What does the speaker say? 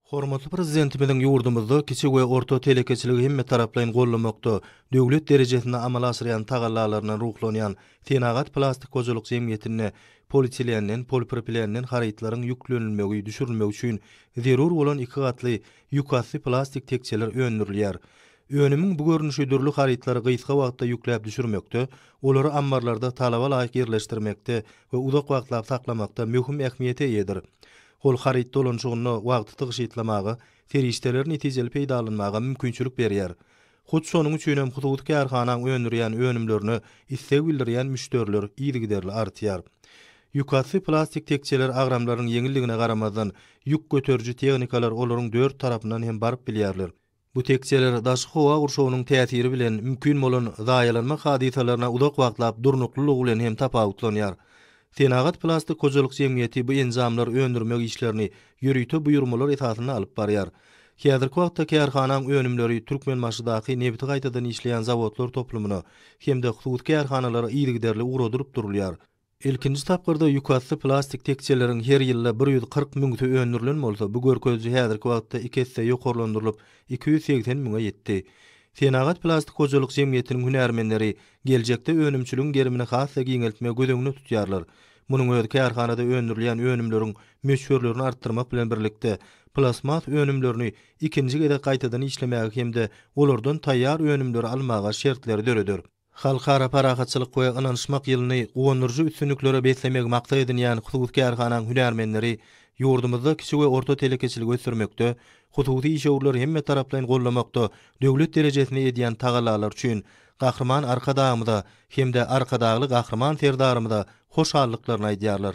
Hormatly Prezidentimiziň ýurdumyzda kiçi we orta telekeçiligi hemmetaraplaýyn goldamakda döwlet derejesinde amala aşyrýan tagallalaryndan ruhlanýan Senagat plastik hojalyk jemgyýetinde politilenden, polipropilenden harytlaryň ýüklenilmegi, düşürilmegi üçin zerur bolan iki gatly ýükasty plastik tekjeler öndürilýär. Önümiň bu görnüşi dürli harytlary gysga wagtda ýükläp düşürmekde, olary ammarlarda talaba laýyk ýerleşdirmekde we uzak wagtlap saklamakda möhüm ähmiýete eýedir. Hol haryt dolanyşygynda wagty tygşytlamaga, serişdeleri netijeli peýdalanmaga mümkinçilik berýär. Hut şonuň üçin hem hususy kärhanaň öndürýän önümlerine isleg bildirýän müşderiler yzygiderli artýar. Ýükasty plastik tekjeler agramlarynyň ýeňilligine garamazdan, ýük göteriji tehnikalar olaryň dört tarapyndan hem baryp bilýärler. Bu tekjeler daşky howa gurşawynyň täsiri bilen mümkin bolan zaýalanma hadysalaryna uzak wagtlap durnuklylygy bilen hem tapawutlanýar. Senagat plastik hojalyk jemgyýeti bu enjamlar öndürmek işlerini ýörite buýurmalar esasynda alyp barýar. Häzirki wagtda kärhanaň önümleri Türkmenbaşydaky nebiti gaýtadan işleýän zawodlar toplumyna hem-de hususy kärhanalara yzygiderli ugradylyp durulýar. Ilkinji tapgyrda ýükasty plastik tekjeleriň her ýylda bir ýüz kyrk müňüsi öndürilen bolsa, bu görkeziji häzirki wagtda iki esse ýokarlandyrylyp, iki ýüz segsen müňe ýetdi. Senagat plastik hojalyk jemgyýetiniň hünärmenleri geljekde önümçiligiň gerimini has-da giňeltmegi göz öňünde tutýarlar. Munuň özi kärhanada öndürilýän önümleriň möçberlerini artdyrmak bilen birlikde, plastmas önümlerini ikinji gezek gaýtadan işlemäge hem-de olardan taýýar önümleri almaga şertleri döreder. Halkara parahatçylyk we ynanyşmak ýylyny guwandyryjy üstünliklere beslemegi maksat edinýän hususy kärhananyň hünärmenleri ýurdumyzda kiçi we orta telekeçiligi ösdürmekde, hususy işewürleri hemmetaraplaýyn goldamakda döwlet derejesinde edýän tagallalary üçin Gahryman Arkadagymyza hem-de Arkadagly Gahryman Serdarymyza hoşallyklaryny aýdýarlar.